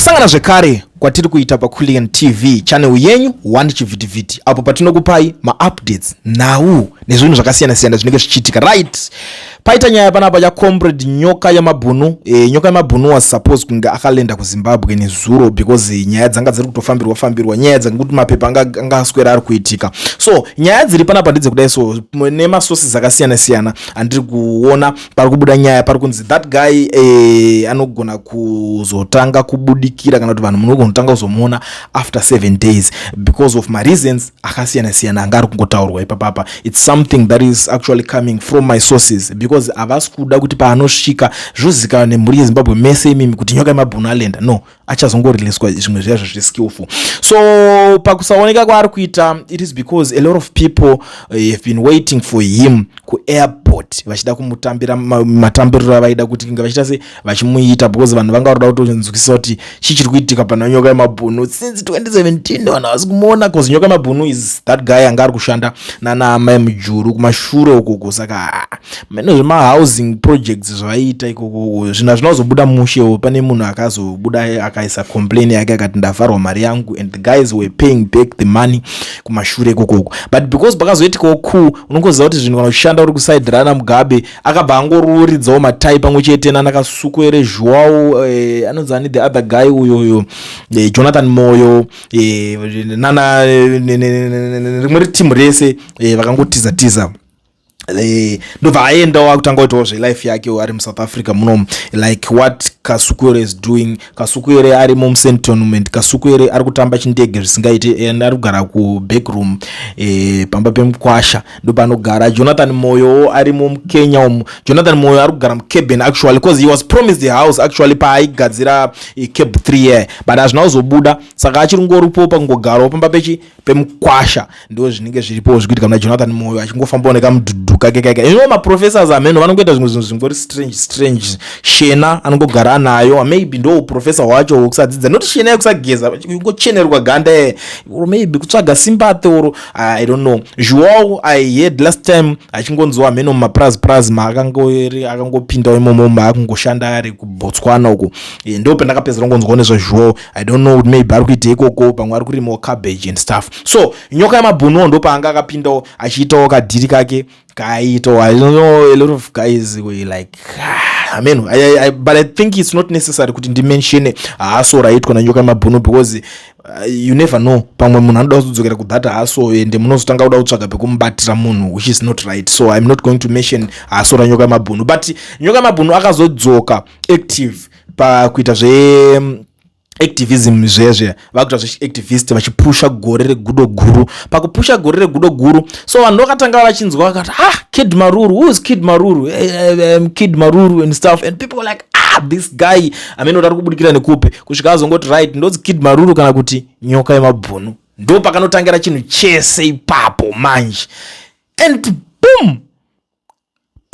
kusangana zvekare kwatiri kuita pakulian tv channel yenyu one chivhitivhiti apo patinokupai maupdates nhau nezvinhu zvakasiyana-siyana zvinenge zvichiitika right paita nyaya panapa yacomrade nyoka yamabhunu e, nyoka yamabhunu was suppose kunge akalenda kuzimbabwe nezuro because nyaya dzanga dziri kutofambirwa fambirwa nyaya dzekuti mapepa anga aswera ari kuitika so nyaya dziri panapa ndidze kudai so nemasources akasiyana-siyana andiri kuona pari kubuda nyaya pari kunzi that guy eh, anogona kuzotanga kubudikira kana kuti vanhu munogona kutanga kuzomuona after seven days because of mareasons akasiyana siyana anga ari kungotaurwa ipapapa its something that is actually coming from my sources because havasi kuda kuti paanosvika zvozivikanwa nemhuri yezimbabwe mese imimi kuti nyoka yemabhunu alenda no achazongoriliswa zvimwe zviya zvazviri skillful so pakusaoneka kwaari kuita it is because a lot of people eh, have been waiting for him kuairport vachida kumutambira matambiriro avaida kuti inga vachiita se vachimuita because vanhu vanga varoda kutonzwisisa kuti chii chiri kuitika pana nyoka yemabhunu since 2017 vanhu havasi kumuona bcause nyoka yemabhunu is that guy anga ari kushanda nana amai mujuru kumashure ukoko saka mene zvemahousing projects zvaiita ikoko zvinhu hazvina kuzobuda mushewo pane munhu akazobuda akaisa complain yake akati ndavharwa mari yangu and the guys were paying back the money kumashure ikokoko but because pakazoitikawo cool unongoziva kuti zvinhu kana uchishanda uri kuside rana mugabe akabva angororidzawo matai pamwe chete nanakasuku ere zhuwawo eh, anonzi ani the other guy uyoyo eh, jonathan moyo eh, nana rimwe ritimu rese eh, vakangotiza tiza, tiza. Eh, ndobva aenda wakutanga kuitawo zvelife yake ari musouth africa muno like what kasukuere is doing kasukuere ari mumsen tournament kasukuere ari kutamba chindege zvisingaite and ari kugara kubackroom e, pamba pemukwasha ndopanogara jonathan moyowo ari mukenya umu jonathan moyo ari kugara mucaben actually bcause he was promised the house actually paaigadzira e, eh, cab 3 year but hazvina kuzobuda saka achiri ngoripo pakungogarawo pamba pechi pemukwasha ndo zvinenge zviripo zvikuitika muna jonathan moyo achingofambawo nekamudhudhu kake kaika ino maprofessors ameno vanongoita zvimwe zvinhu zvingori strange strange shena anongogara anayo maybe ndo professor wacho wokusadzidza noti shena yekusageza kungochenerwa ganda e or maybe kutsvaga sympathy or i don't know zhuwawo i heard last time achingonzwa ameno mumapraz praz maakangori akangopindawo imomo maakungoshanda ari kubotswana uku e, ndo pandakapedzera kungonzwawo nezvazhuwawo i don't know kuti maybe ari kuita ikoko pamwe ari kurimawo cabbage and stuff so nyoka yamabhunuwo ndopaanga akapindawo achiitawo kadhiri kake kaaitawo i don't know a lot of guys were like ah, amen I, I, I, but i think it's not necessary kuti ndimensione haso raitwa nanyoka yamabhunu because uh, you never know pamwe munhu anoda kuzodzokera kudhata haso ende munozotanga kuda kutsvaga pekumubatira munhu which is not right so iam not going to mention haso ranyoka yamabhunu but nyoka yamabhunu akazodzoka active pakuita zve activism zviya zviya vakuita zvechiactivist vachipusha gore regudo guru pakupusha gore regudo guru so vanhu vakatanga vachinzwa vakati ah kid maruru who is kid maruru eh, eh, eh, um, kid maruru and stuff and people were like ah this guy amene kuti ari kubudikira nekupi kusvika azongoti right ndodzi kid maruru kana kuti nyoka yemabhunu ndo pakanotangira chinhu chese ipapo manje and boom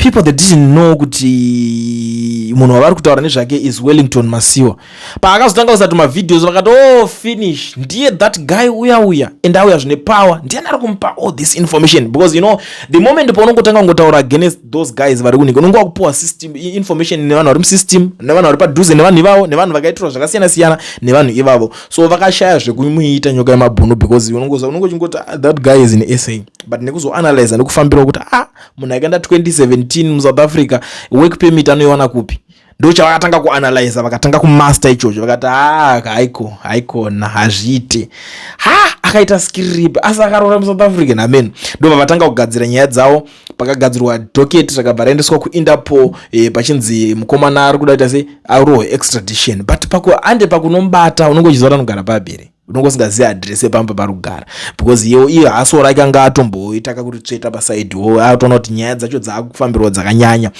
people that didn't know kuti munhu wavari kutaura nezvake is wellington masiwa paakazotanga kusati mavideos vakati oh finish ndiye that guy uya uya and auya zvine power ndiyani ari kumupa all this information because you know the moment paunongotanga kungotaura against those guys vari kunika unonge wakupiwa system information nevanhu vari musystem nevanhu vari padhuze nevanhu ivavo nevanhu vakaitirwa zvakasiyana siyana nevanhu ivavo so vakashaya zvekumuita nyoka yemabhunu because unongoza unongochingoti ah, that guy is in sa but nekuzoanalyza nekufambirawo kuti ah munhu akaenda 2017 musouth africa work permit anoiwana kupi ndo chavakatanga kuanalyza vakatanga kumaster ichocho vakati haa ah, haiko haikona hazviite ha akaita skirip asi akaroora musouth africa namen ndo vavatanga kugadzira nyaya dzavo pakagadzirwa docket rakabva raendeswa kuinterpol eh, pachinzi mukomana ari kuda kuita se arohwe extradition but paku ande pakunomubata unenge uchiziva tanogara pabiri unonge usingazivi adhiresi yepamba pari kugara because iyo iyo hasoo rake anga atomboitaka kuti tsveta pasaidi wo atoona kuti nyaya dzacho dzaakufambirwa dzakanyanya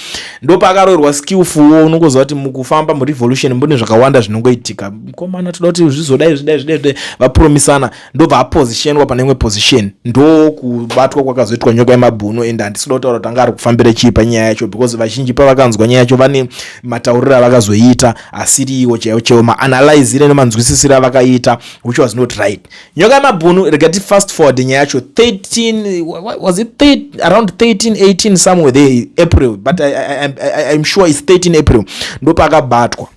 ndopaakaroirwa skillfulwo unongoziva kuti mukufamba murevolution mbune zvakawanda zvinongoitika mukomana toda kuti zvizodai zvidai zvidai zvidai vapromisana ndobva apositionwa pane imwe position ndo kubatwa kwakazoitwa nyoka yemabhuno ende handisida kutaura kuti anga ari kufambira chii panyaya yacho because vazhinji pavakanzwa nyaya yacho vane matauriro avakazoiita asiriwo chaiwo chaiwo maanalyzire nemanzwisisire avakaita which was not right nyoka yemabhunu rega ti fast forward nyaya yacho 13 was it 13, around 13 18 somewhere there april but I, I, I, i'm sure its 13 april ndopaakabatwa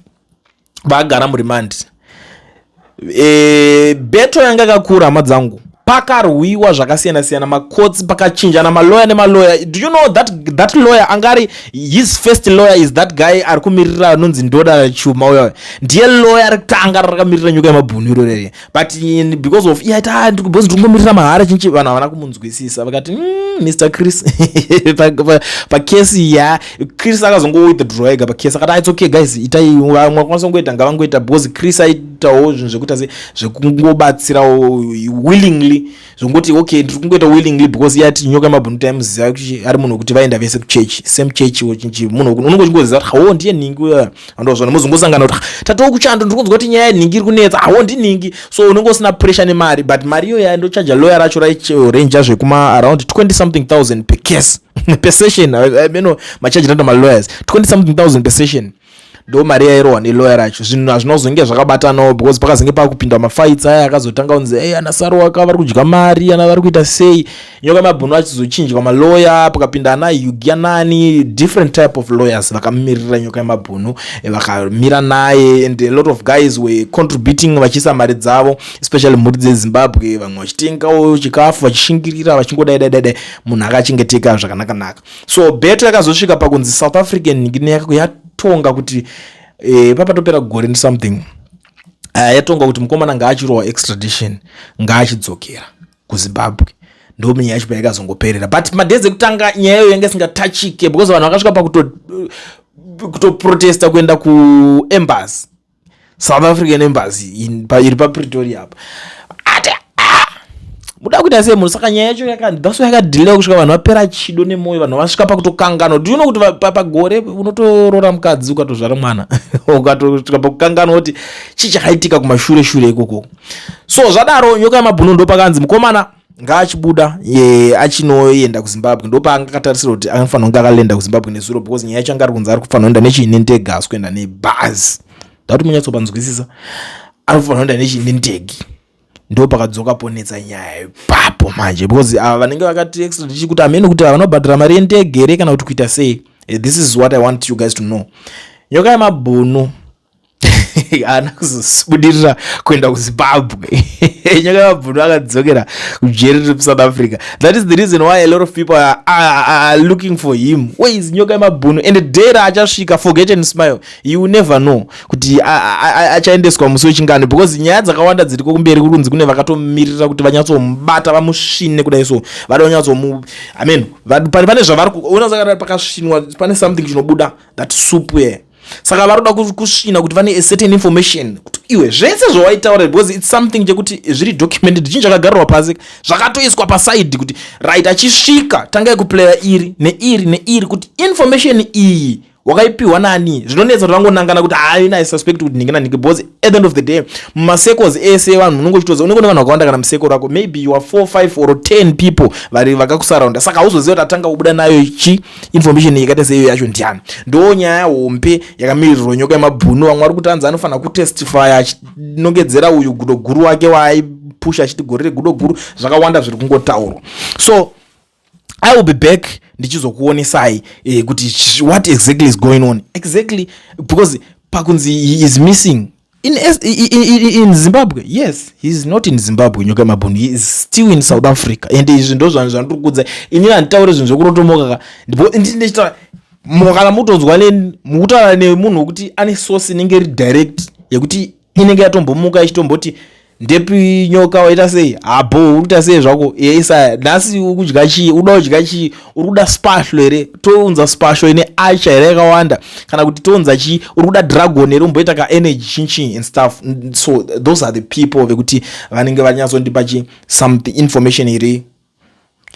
vaagara muremand e, beto yanga yakakura hama dzangu pakarwiwa zvakasiyana siyana makotsi pakachinjana maloya nemaloya do you know that, that lawyer angari his first lawyer is that guy ari kumirira anonzi ndoda chuma uya ndiye lawyer rekutanga rakamirira nyuka yemabhunu iro rere but in, because of iyaita ah, because ndingomirira mahara chinchi vanhu havana kumunzwisisa vakati mm, mr chris pakesi pa, pa ya chris akazongowithdraw ega pakesi akati its okay guys itai mwakwanisa kungoita ngavangoita because chris aitawo zvinhu zvekuita se zvekungobatsirawo willingly zvekungoti okay ndiri kungoita willingly because iye ati nyoka yemabhunu taimuziva kuti ari munhu wekuti vaenda vese kuchurch same church wachinji munhu unongo chingoziva kuti hawo ndiye nhingi uya andozvona mozongosangana kuti tatowo kuchando ndiri kunzwa kuti nyaya yenhingi iri kunetsa hawo ndinhingi so unenge usina pressure nemari but mari iyoyo yandochaja lawyer racho raichaja zvekuma around 20 something thousand per case per session I, I, you know, machaji nato malawyers 20 something thousand per session ndo mari yairohwa nelawyer racho zvinhu hazvina kuzonge zvakabatanawo because pakazenge pakupinda mafights aya akazotanga kunzi ey ana saroaka vari kudya mari ana vari kuita sei nyoka mabhunu achizochinjwa malawyer pakapinda ana yugia nani different type of lawyers vakamirira nyoka yemabhunu eh, vakamira naye and a lot of guys were contributing vachiisa mari dzavo especially mhuri dzezimbabwe vamwe vachitengawo chikafu vachishingirira vachingodaidaidai munhu akachengeteka zvakanakanaka so beto yakazosvika pakunzi south african nyikine yako yatonga kuti e, papatopera gore nesomething uh, yatonga kuti mukomana ngaachirowa extradition ngaachidzokera kuzimbabwe ndominyaya yacho payakazongoperera but madays ekutanga nyaya yayo yanga isingatachike because vanhu vakasvika pakuto eh, kutoprotesta kuenda kuembasy south african embassy iri papretoria apa ati ah, muda kuita sei munhu saka nyaya yacho yakadhaso yakadhilewa kusvika vanhu vapera chido nemwoyo vanhu vasvika pakutokanganwa do you know kuti pagore unotoroora mukadzi ukatozvara mwana ukatosvika pakukanganwa kuti chii chakaitika kumashure shure ikoko so zvadaro nyoka yamabhuno ndopakanzi mukomana ngaachibuda ye achinoenda kuzimbabwe ndopaanga akatarisira kuti anofanira kunge akalenda kuzimbabwe nezuro because nyaya yacho anga ari kunzi ari kufanira kuenda nechiine ndege haasi kuenda nebhazi ndauti munyatsopanzwisisa ari kufanira kuenda nechiine ndege ndo pakadzoka ponetsa nyaya ipapo manje because ava vanenge vakati extradichi kuti amene kuti vanobhadhara mari yendege here kana kuti kuita sei eh, this is what i want you guys to know nyoka yemabhunu haana kuzobudirira kuenda kuzimbabwe nyaka yamabvunhu akadzokera kujeri riri musouth africa that is the reason why a lot of people are, are, are looking for him ways nyoka yemabhunu and day raachasvika forget and smile you will never know kuti achaendeswa musi wechingani because nyaya dzakawanda dziriko kumberi kuri kunzi kune vakatomirira kuti vanyatsomubata vamusvine kudai so vada vanyatsomu i mean pane zvavari kuona zvakaa pakasvinwa pane something chinobuda that soup here saka vari kuda kusvina kuti vane certain information kuti iwe zvese zvawaitaura because its something chekuti zviri documented chinhu chakagarirwa pasi zvakatoiswa pasaidi kuti right achisvika tangai kuplaya iri neiri neiri kuti information iyi wakaipiwa nani zvinonetsa kuti vangonangana kuti haina i suspect kuti nhingi nanhingi because at the end of the day mumasecos ese vanhu unenge uchitoziva unenge une vanhu vakawanda kana museko rako maybe you are four five or ten people vari vakakusaraunda saka hauzoziva kuti atanga kubuda nayo ichi information yakaita seiyo yacho ndiani ndo nyaya hombe yakamirirwa nyoka yemabhunu vamwe vari kutanzi anofanira kutestifya achinongedzera uyu gudo guru wake waaipusha achiti gore regudo guru zvakawanda zviri kungotaurwa so i will be back ndichizokuonesai eh, kuti what exactly is going on exactly because pakunzi is missing in, in, in, in zimbabwe yes heis not in zimbabwe nyoka yemabhunu heis still in south africa and izvi ndo zvanhu zvandiri kudza inini handitaure zvinhu zvekurotomoka ka ndichitaura kana mutonzwa neni mukutaura nemunhu wekuti ane source inenge iri direct yekuti inenge yatombomuka ichitomboti ndepi nyoka waita sei habo ah, uri kuita sei zvako iye isaya nhasi uri kudya chii uda kudya chii uri kuda spashlo here tounza spashlo ine acha here yakawanda kana kuti tounza chii uri kuda dragon here umboita ka energy chinchin and stuff so those are the people vekuti vanenge vanyatsondipa chi something information iri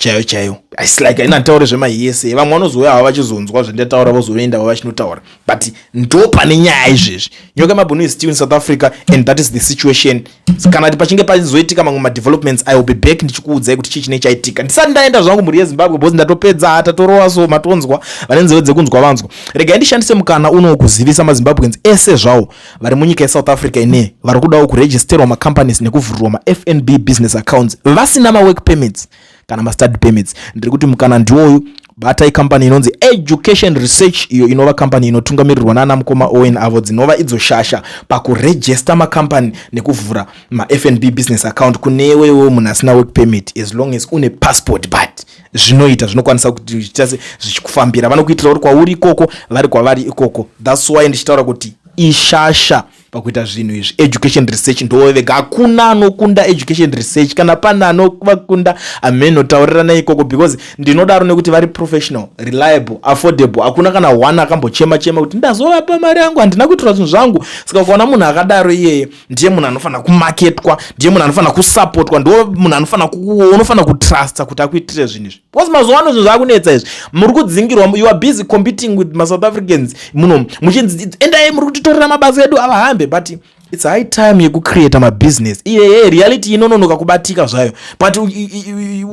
chaiyo chaiyo its like aina nditaure zvemahiyese vamwe vanozouya havo vachizonzwa zvandataura vozoenda vo vachinotaura but ndo pane nyaya izvezvi nyoka mabhunu is still in south africa and that is the situation kana ti pachinge pachizoitika mamwe madevelopments i will be back ndichikuudzai kuti chii chinei chaitika ndisati ndaenda zvangu mhuri yezimbabwe bcause ndatopedza hata torova so matonzwa vane nzeve dzekunzwa vanzwa regai ndishandise mukana uno kuzivisa mazimbabweans ese zvawo vari munyika yesouth africa ine vari kudawo kuregisterwa macompanies nekuvhurirwa mafnb business accounts vasina mawork permits kana mastudy permits ndiri kuti mukana ndiwoyu batai kambani inonzi education research iyo inova kambani inotungamirirwa naana mukoma owen avo dzinova idzo shasha pakurejesta makambani nekuvhura mafnb business account kunewewo munhu asina work permit as long as une passport but zvinoita zvinokwanisa kuti zvichita se zvichikufambira vanokuitira uri kwauri ikoko vari kwavari ikoko thats why ndichitaura kuti ishasha pakuita zvinhu izvi education research ndowe vega hakuna anokunda education research kana pane anovakunda ameno taurirana ikoko because ndinodaro nekuti vari professional reliable affordable hakuna kana one akambochema chema kuti ndazovapa mari yangu handina kuitira zvinhu zvangu saka ukaona munhu akadaro iyeye ndiye munhu anofanira kumaketwa ndiye munhu anofanira kusapotwa ndo munhu anofanira unofanira kutrusta kuti akuitire zvinhu izvi because mazuva ano zvinhu zvakunetsa izvi muri kudzingirwa you are busy competing with masouth africans muno muchinzi endai muri kutitorera mabasa edu avahambe but its high time yekucreata mabusiness iyeye reality inononoka kubatika zvayo but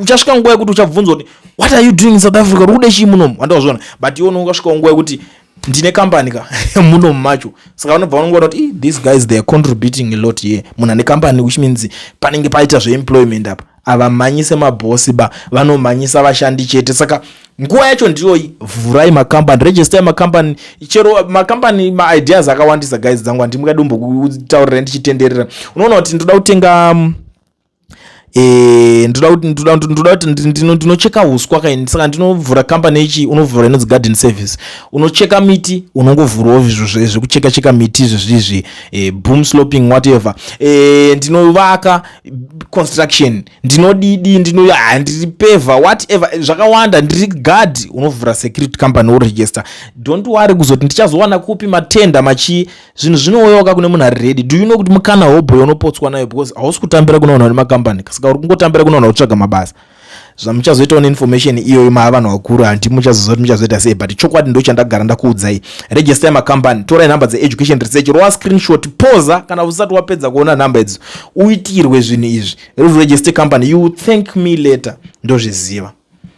uchasvika nguva yekuti uchabvunzwa kuti what are you doing in south africa uri kude chii munomu wandawazviona but iwe unokasvikawo nguva yekuti ndine kambani ka muno macho saka vanobva vanongoona kuti these guys they are contributing a lot here munhu ane kambani which means panenge paita zveemployment apa havamhanyise mabhosi ba vanomhanyisa vashandi chete saka nguva yacho ndiyoyi vhurai makambani register makambani chero makambani maideas akawandisa guys dzangu handimukadi umbokuutaurira ndichitenderera unoona kuti ndoda kutenga um, Eh, ndoda kuti ndoda kuti ndoda kuti ndino ndinocheka uswa kaini saka ndinovhura company ichi unovhura inonzi garden service unocheka miti unongovhurawo izvo zvekucheka cheka miti izvo zvizvi eh, boom sloping whatever eh, ndinovaka construction ndinodidi ndino ah, ndiri peva whatever zvakawanda ndiri guard unovhura security company woregister don't worry kuzoti ndichazowana kupi matenda machi zvinhu zvinooyoka kune munhu ari redi do you know kuti mukana hobho yaunopotswa nayo because hausi kutambira kunoona une makambani saka uri kungotambira kunoona kutsvaga mabasa zvamuchazoitawo neinformation iyoyo maa vanhu vakuru hanti muchazoziva kuti muchazoita sei but chokwadi ndo chandagara ndakuudzai register yemacompany torai nhamba dzeeducation research rowa screenshot poza kana usati wapedza kuona nhamba idzo uitirwe zvinhu izvi register company you thank me later ndozviziva